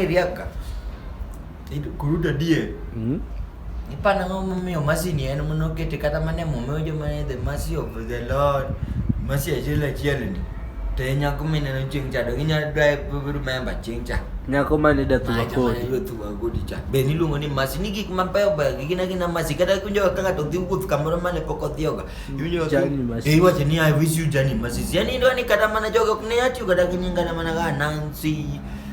Eriaka. Kurudi adier. Mm. Ipana ng'o momiyo mercy ni en mono kete kata mane momiyo joma ne the mercy of the Lord. Mercy achiel achiel ni. To e nyako mineno chieng' cha to ginyalo dwaye remember chieng' cha. Nyako mane da thuwa kodi. Mane thuwa kodi cha. Be niluongo ni mercy ni gik mabeyo beyo gi gina gina mercy kata kunjo ka ng'ato dhi wuoth kamoro mane pok odhiyoga. Iwinjo ka Journey mercy. Eh, iwacho ni I wish you journey mercy. Yani idwa ni kata mana jogo ok ne atiyo kata gi nyinga na mana ga Nancy.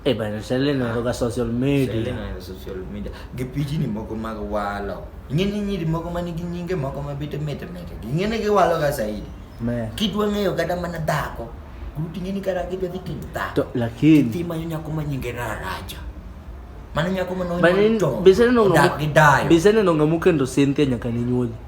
Eh bana, Shirley no ga social media. Shirley no ga social media. Gi piji ni moko mag walo. Ng'eni nyiri moko man gi nyinge moko ma bete mete mete. Ng'eni gi walo ga zaidi. Me. Kidwa ng'eyo kata mana dhako. Gruti ng'eni kata kidwa dhi timo dhako. To lakini. Ti manyo nyako ma nyinge raraja. Mano nyako ma nonyo to. Bisene no ng'amu. Bisene no ng'amu kendo Cynthia nyaka ni nyuoli.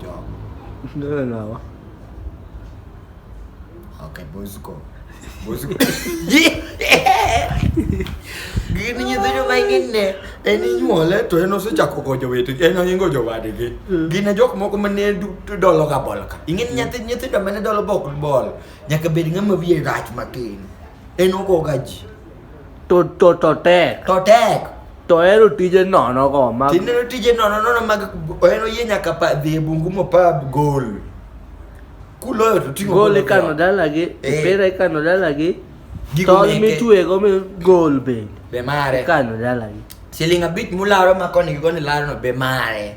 Job. Ndio nawa. Okay, Bosco. Bosco. Gini nyithi joma ingine en inyuole to en osechako jowete en oingo jowadgi. Mm. Gine jok moko mane dolo ka bol ka. Ingin mm. nyathi nyithindo mane dolo bok bol nyaka bed ng'ama wiye rach matin. En ogoga ji. To to to tek. to tek To ohero tije nono go mag tineno tije nono nono mag ohero yie nyaka pa dhi e bungu mopa gol kuloyo to ting'o gol gol ikano oko. dalagi, Eh. mpira ikano dalagi, Gigo tol meke. mitwego mi gol bende be mare ikano dalagi. siling abich mularo ma koni gi koni larono be mare